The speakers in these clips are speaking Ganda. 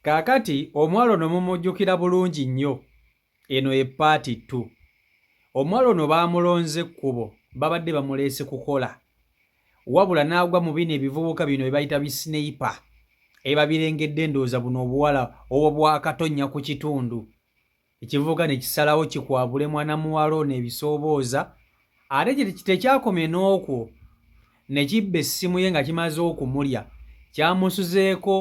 Kaakati, omuwala ono mumujjukira bulungi nnyo, eno ye ppaati ttu. Omuwala ono baamulonze kkubo, babadde bamuleese kukola, wabula n'agwa mu bino ebivubuka bino bye bayita bi sniper, ebabirengedde, ndowooza buno obuwala obwakatonnya ku kitundu, ekivubuka ne kisalawo kikwabule mwana muwala ono ebisoobooza ate tekyakomye n'okwo ne kibba essimu ye nga kimaze okumulya kyamusuzeeko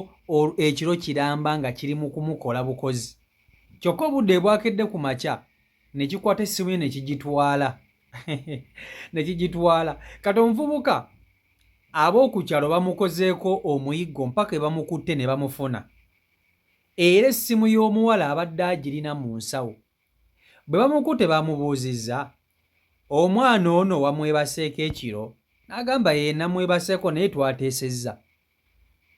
ekiro kiramba nga kiri mu kumukola bukozi kyokka obudde ebwakedde ku makya ne kikwata essimu ye ne kigitwala ne kigitwala kati omuvubuka ab'oku kyalo bamukozeeko omuyiggo mpaka ebamukutte ne bamufuna era essimu y'omuwala abadde agirina mu nsawo. Bwe bamukute bamubuuzizza, omwana ono wamwebaseeko ekiro n'agamba yee namwebaseeko naye twateesezza.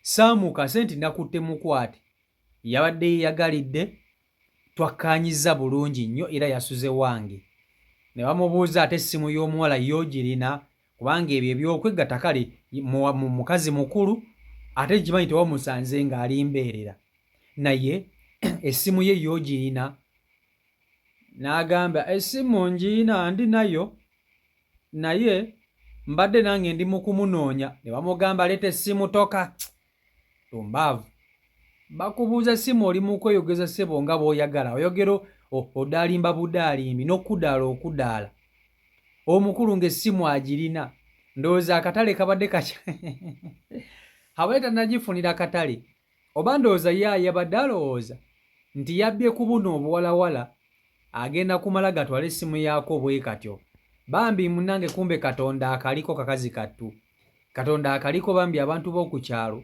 Sam Kase nti nakutte mukwate yabadde yeyagalidde twakkaanyizza bulungi nnyo era yasuze wange. Ne bamubuuza ate essimu y'omuwala ye ogirina kubanga ebyo ebyokwegatta kale mukazi mukulu ate nkimanyi tewamusanze ng'ali mbeerera naye essimu ye yogiyina n'agamba essimu ngiyina ndi nayo naye mbadde nange ndi mu kumunoonya ne bamugamba leeta essimu toka tumbaavu bakubuuza simu oli mu kweyogeza ssebo nga bw'oyagala oyogera odaalimba budaalimbi n'okudaala okudaala omukulu ng'essimu agirina ndowooza akatale kabadde kakya abadde tanagifunira katale oba ndowooza ye ayabadde alowooza nti yabbye ku buno obuwalawala agenda kumala gatwala essimu yaako bwe katyo bambi munange kumbe katonda akaliko kakazi kattu Katonda akaliko bambi abantu b'oku kyalo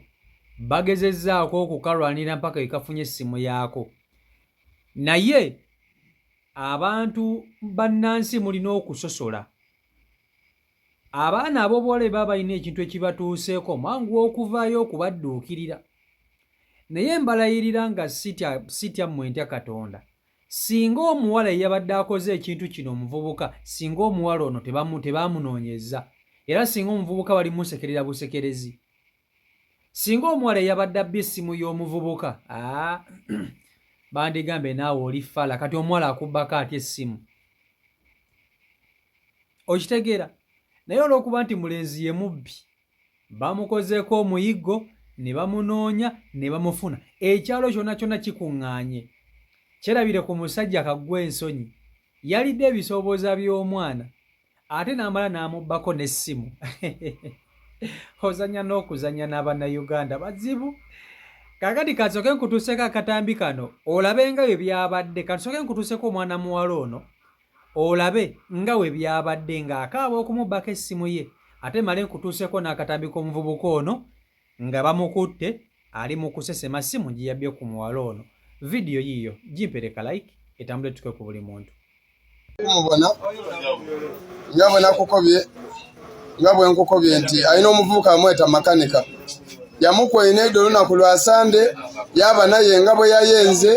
bagezezzaako okukalwanira mpaka ekafunye essimu yaako naye abantu bannansi mulina okusosola abaana ab'obuwala eba balina ekintu ekibatuuseeko mwangu okuvaayo okubadduukirira naye mbalayirira nga sitya mmwe ntya katonda Singa omuwala eyabadde akoze ekintu kino omuvubuka, singa omuwala ono tebaamunoonyezza era singa omuvubuka bali musekerera busekerezi. Singa omuwala eyabadde abba essimu y'omuvubuka, aa bandigambye naawe oli fala, kati omuwala akubbako atya essimu? Okitegeera? Naye olw'okuba nti mulenzi ye mubbi, bamukozeeko omuyiggo ne bamunoonya ne bamufuna ekyalo kyonna kyonna kikuŋŋaanye kyerabire ku musajja kaggwa ensonyi yalidde ebisoobooza by'omwana ate n'amala n'amubbako n'essimu ozanya n'okuzanya n'abannayuganda bazibu kakati kansooke nkutuuseko akatambi kano olabenga bye byabadde kansooke nkutuuseko omwana muwala ono olabe nga bwe byabadde ng'akaaba okumubbako essimu ye ate male nkutuuseko n'akatambi k'omuvubuka ono nga bamukutte ali mu kusesema ssimu gye yabbye ku muwala ono vidiyo yiiyo gimpereka like etambule tuke ku buli muntu mubona nga bwe nakukobye nga bwe nkukobye nti alina omuvubuka amweta makanika yamukweyina edo olunaku lwa sande yaba naye nga bwe yayenze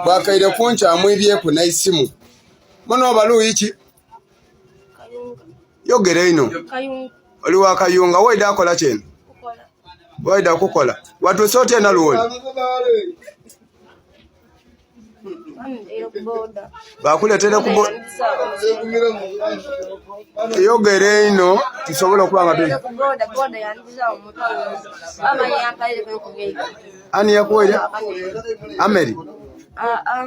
bwakaire kunkyamwibyeku naisimu Mwana wa Baluyi ki? Kayunga. Yogera ino. Kayunga. Oli wa Kayunga, wayide akola kyeno? Kukola. Wayide akukola. Watu sote ena luwoli. Bakuletera kubo. Yogera ino tusobola okuba nga tuli. Ani yakuwera? Ameri. Ah ah.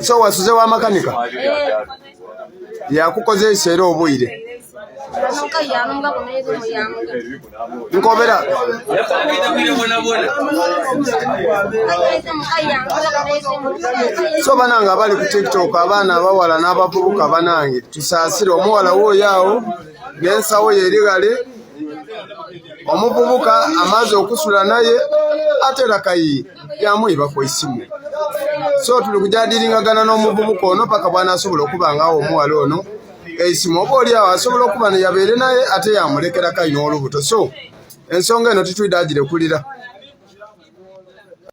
so wasuze wa makanika yakukozesa era obwire nkobera so banange abali ku tiktok abaana abawala n'abavubuka banange tusaasire omuwala wooyo awo n'ensawo yeerigale omuvubuka amaze okusula naye ate lakayi yamuyiba ku esimu so tuli kujadiringagana n'omuvubuka ono paka bwanasobola okuba ngawo omuwala ono esimu oba oli awo asobola okuba neyabeere naye ate yamulekera kayi n'olubuto so ensonga eno titwide agirekulira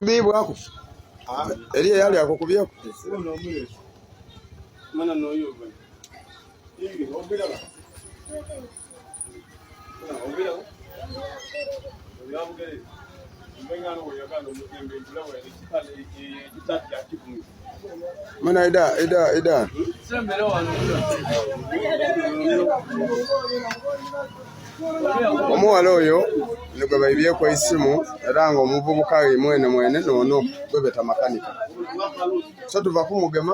bibwako eri eyali ako kubyeko Mana ida ida ida. Omuwala oyo nigwe baibyeko isimu era nga omuvubuka ye mwene mwene nono gwebeta makanika so tuva kumugema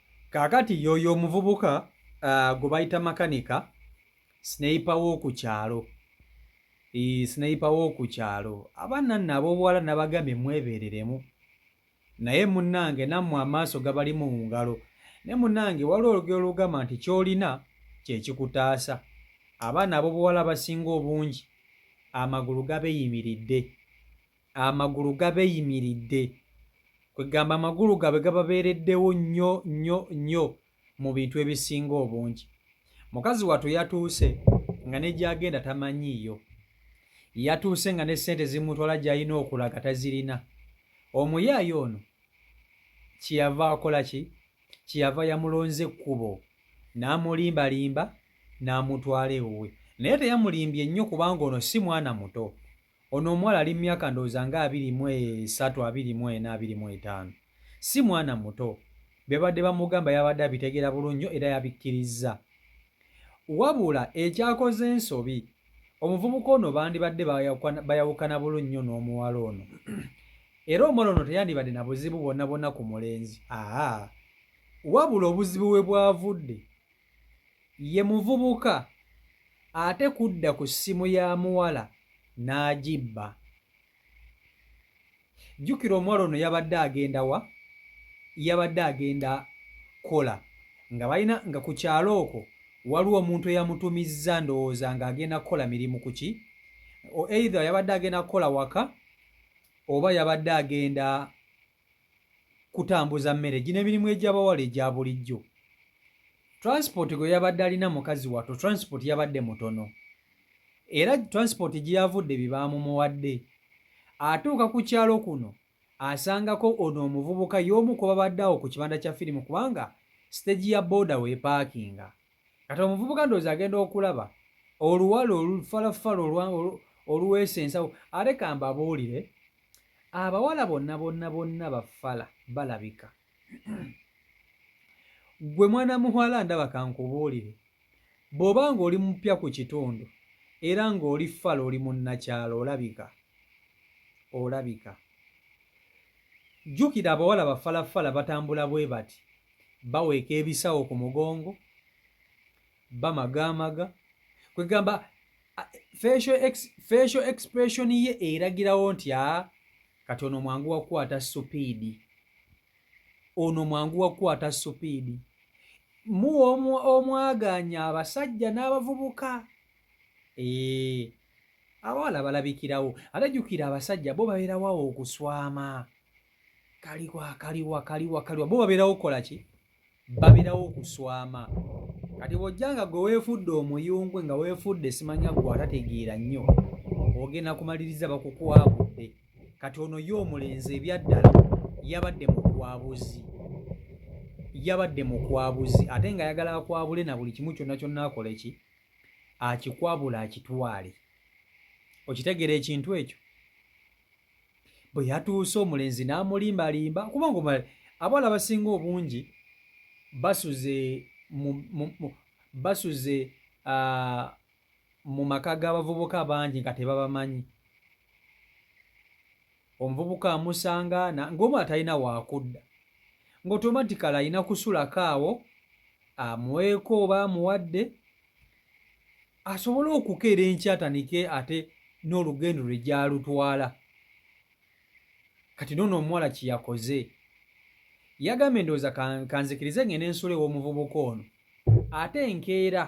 Kaakati yooyo omuvubuka uh, gwe bayita makanika sineyipa w'oku kyalo e, sineyipa w'oku kyalo abaana nno ab'obuwala nabagambye mwebeereremu naye munnange nammwe amaaso gabali mu ngalo ne munnange waliwo olugero lugamba nti ky'olina kye kikutaasa abaana ab'obuwala abasinga obungi amagulu gabeyimiridde amagulu gabeyimiridde kwegamba amagulu gabwe gababeereddewo nnyo nnyo nnyo mu bintu ebisinga obungi mukazi watu yatuuse nga negyagenda tamanyiiyo yatuuse nga ne ssente zimutwala gyalina okulaga tazirina omuyaayo ono kyeyava akola ki kyeyava yamulonze ekkubo n'amulimbalimba n'amutwala ewuwe naye teyamulimbye nnyo kubanga ono si mwana muto Ono omuwala ali mumyaka ndowooza nga abiri mu esatu, abiri mu ena, abiri mu etaano. Si mwana muto. Byebabadde bamugamba yabadde abitegeera bulungi nnyo era yabikkirizza. Wabula ekyakoze ensobi, omuvubuka ono bandibadde bayawukana bulungi nnyo n'omuwala ono. Era omuwala ono teyandibadde na buzibu bwonna bwonna ku mulenzi. Aa! Wabula obuzibu we bwavudde, ye muvubuka ate kudda ku ssimu ya muwala n'agibba. Jjukira omuwala ono yabadde agenda wa? Yabadde agenda kola nga balina nga ku kyalo okwo waliwo omuntu eyamutumizza ndowooza ng'agenda kukola mirimu ku ki either yabadde agenda kukola waka oba yabadde agenda kutambuza mmere gino emirimu egy'abawala egya bulijjo transport gwe yabadde alina mukazi wato transport yabadde mutono era transport gye yavudde bye baamumuwadde atuuka ku kyalo kuno asangako ono omuvubuka y'omu ku babadde awo ku kibanda kya firimu kubanga siteegi ya booda weepaakinga kati omuvubuka ndowooza agenda okulaba oluwala olufalafala oluweesa ensawo ate kambabuulire abawala bonna bonna bonna bafala balabika gwe mwana muwala ndaba kankubuulire bw'oba ng'oli mupya ku kitundu era ng'oli fala oli munnakyalo olabika olabika jjukira abawala bafalafala batambula bwe bati baweeka ebisawo ku mugongo bamagaamaga kwegamba facial expression ye eragirawo nti a ah, kati ono mwangu wakukwata supiidi ono mwangu wakukwata supiidi muwa omwaganya abasajja n'abavubuka ee abawala balabikirawo ate jjukira abasajja bo babeerawo awo okuswama kaliwa kaliwa kaliwa kaliwa bo babeerawo okukola ki babeerawo okuswama kati bw'ojja nga gwe weefudde omuyungwe nga weefudde simanya gwe atategeera nnyo ogenda kumaliriza bakukwabudde kati ono ye omulenzi ebyaddala yabadde mukwabuzi yabadde mukwabuzi ate nga ayagala akwabule na buli kimu kyonna kyonna akole ki akikwabula akitwale okitegeera ekintu ekyo bwe yatuuse omulenzi n'amulimbalimba kuba ngo abawala abasinga obungi basuze basuze mu maka g'abavubuka bangi nga tebabamanyi omuvubuka amusanga ng'omu atalina waakudda ng'otomatikala alina kusulako awo amweko oba amuwadde asobole okukeera enkyatanike ate n'olugendo lwe gyalutwala kati noono omuwala kyeyakoze yagambye ndowooza kanzikirize ngende ensula ew'omuvubuka ono ate enkeera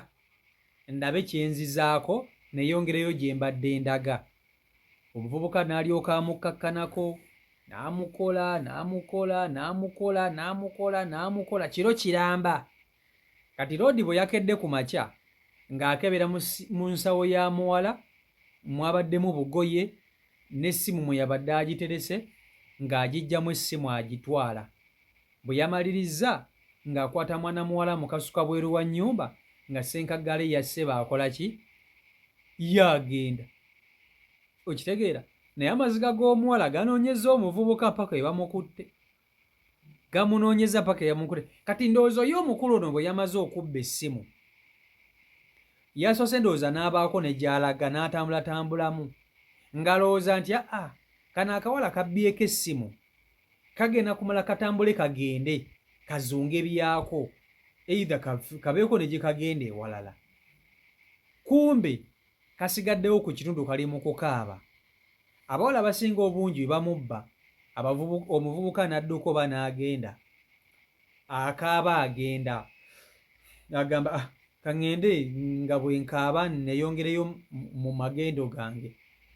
ndabe kyenzizaako neyongereyo gye mbadde ndaga omuvubuka n'alyoka amukkakkanako n'amukola n'amukola n'amukola n'amukola n'amukola kiro kiramba Kati Loodi bwe yakedde ku makya ng'akebera mu nsawo ya muwala mwabaddemu bugoye n'essimu mwe yabadde agiterese ng'agiggyamu essimu agitwala. Bwe yamalirizza ng'akwata mwana muwala mu kasuka bweru wa nnyumba nga ssenkaggale ya ssebo akola ki? Ye agenda. Okitegeera? Naye amaziga g'omuwala ganoonyezza omuvubuka mpaka ebamukutte. gamunoonyeza paka eyamunkule kati ndowooza oyo omukulu ono bwe yamaze okubba essimu yasoose ndowooza n'abaako ne gy'alaga n'atambulatambulamu ngalowooza nti aa kano akawala kabbyeko essimu kagenda kumala katambule kagende kazunge byako eitha kabeeko ne gye kagenda ewalala kumbe kasigaddewo ku kitundu kali mu kukaaba. Abawala abasinga obungi bamubba omuvubuka n'adduka oba n'agenda akaaba agenda agamba ah, kaŋŋende nga bwe nkaaba nneeyongereyo mu magendo gange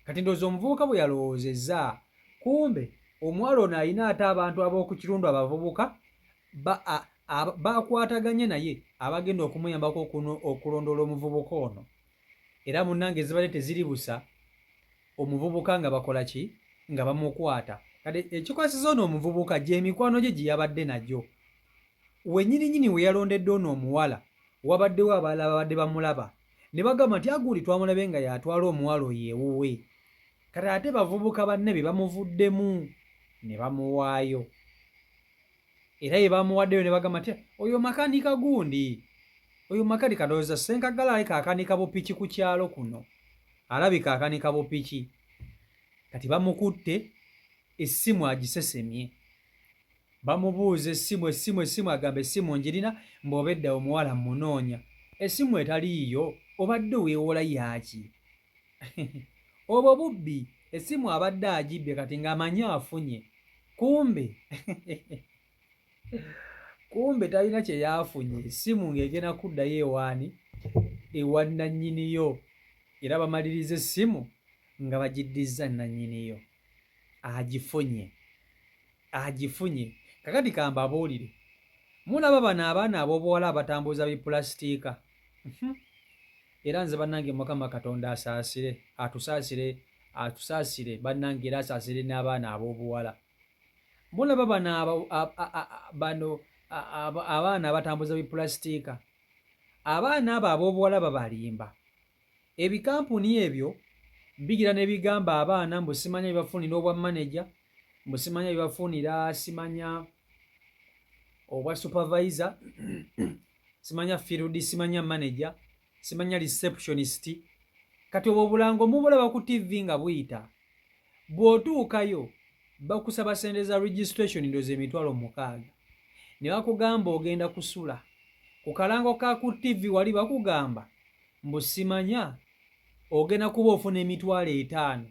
kati ndoozi omuvubuka bwe yalowoozezza kumbe omuwala ono alina ate abantu ab'oku kirundu abavubuka bakwataganye naye abagenda okumuyambako okulondoola omuvubuka ono era munange ezibadde teziribusa omuvubuka nga bakola ki nga bamukwata kati ekikwasiza ono omuvubuka gyemikwano gye gyeyabadde nagyo wenyininyini weyalondedde ono omuwala wabaddewo abalala babadde bamulaba ne bagamba nti agundi twamulabe nga yatwala omuwala oyo ewuwe kati ate bavubuka banne be bamuvuddemu ne bamuwaayo era ye bamuwaddeyo ne bagamba nti oyo makanika gundi oyo makanika ndowooza senkagala alabika akanika bupiki ku kyalo kuno alabika akanika bupiki kati bamukutte essimu agisesemye bamubuuza essimu essimu essimu agamba essimu njirina mbaobedda omuwala munoonya essimu etaliiyo obadde oweewola yaaki obwo bubbi esimu abadde agibbye kati nga amanyi afunye kumbe kumbe talina kyeyafunye esimu ng'egenda kuddayo ewaani ewa nannyiniyo era bamaliriza essimu nga bagiddizza nannyiniyo agifunye agifunye kakati kambabuulire mulaba bano abaana ab'obuwala abatambuza bipulasitika mhm. Era nze banange mukama katonda asaasire atusaasire atusaasire banange era asaasire n'abaana ab'obuwala mulaba bano bano abaana abatambuza bipulasitika abaana abo ab'obuwala babalimba ebikampuni ebyo bigira ne bigamba abaana mbu simanya bibafunira obwa manaja mbu simanya bibafunira simanya obwa supervisor simanya field simanya manager simanya receptionist kati obwo obulango mubulaba ku tv nga buyita bw'otuukayo bakusaba sente za registration ndoza emitwalo mukaaga ne bakugamba ogenda kusula ku kalango ka ku tv wali bakugamba mbu simanya ogenda kuba ofuna emitwalo etaano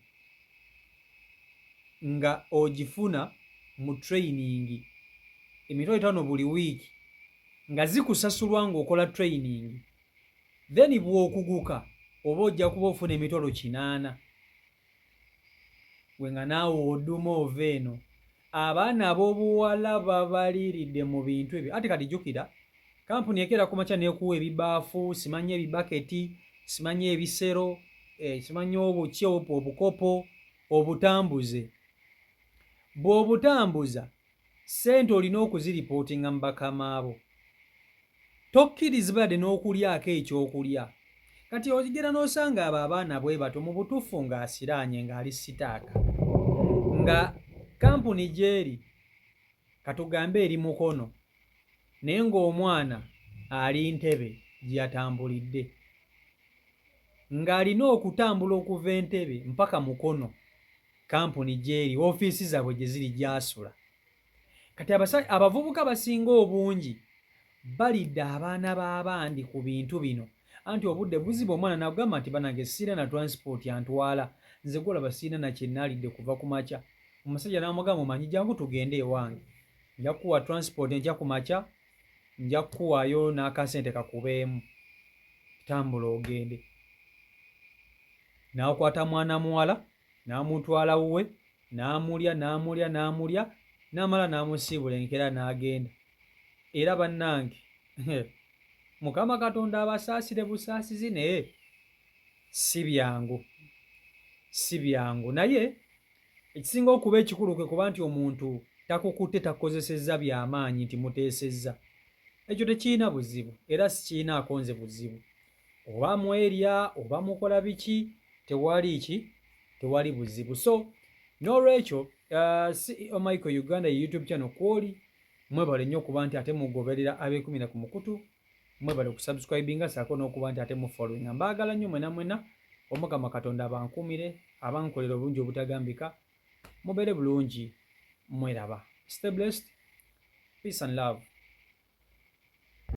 nga ogifuna mu training emitwalo etaano buli wiiki nga zikusasulwa ng'okola training then bw'okuguka oba ojja kuba ofuna emitwalo kinaana gwe nga naawe oduma ova eno abaana abobuwala babaliiridde mu bintu ebyo ate kati jukira kampuni ekeera ku makya nekuwa ebibaafu simanyi ebibaketi simanyi ebisero eh, simanyi obuki obukopo obutambuze bw'obutambuza Ssente olina okuziripootinga mu bakamaabo. Tokkirizbade n'okulyako eky'okulya. Kati ogera n'osanga abo abaana bwebato mu butuffu nga asiraanye nga ali sitaaka. Nga kampuni gyeri katugambe eri Mukono naye ng'omwana ali Ntebe gyeyatambulidde. Nga alina okutambula okuva Entebe mpaka Mukono. kampuni gyeri ofiisi zaabwe gye ziri gyasula kati abavubuka basinga obungi balidde abaana b'abandi ku bintu bino anti obudde buziba omwana nagamba nti banange siina na transport antwala nze golaba siina nakyenaalidde kuva ku makya omusajja namugamba omanyi jangu tugende ewange nja kukuwa transport enkya ku makya nja kukuwaayo n'akasente kakubeemu tambula ogende n'akwata mwana muwala n'amutwala wuwe n'amulya n'amulya n'amulya n'amala n'amusiibula enkeera n'agenda era bannange mukama katonda abasaasire busaasizi naye si byangu si byangu naye ekisinga okuba ekikulu kwe kuba nti omuntu takukutte takukozesezza byamaanyi nti muteesezza ekyo tekirina buzibu era sikirinaako nze buzibu oba mwerya oba mukola biki tewali ki tewali buzibu so n'olwekyo uh, ceo michael uganda ye youtube channel kwoli mwebale nnyo okuba nti ate mugoberera abekumira ku mukutu mwebale okusubscribinga saako n'okuba nti ate mufollowinga mbaagala nnyo mwena mwena omukama katonda abankuumire abankolera obulungi obutagambika mubeere bulungi mweraba stay blessed peace and love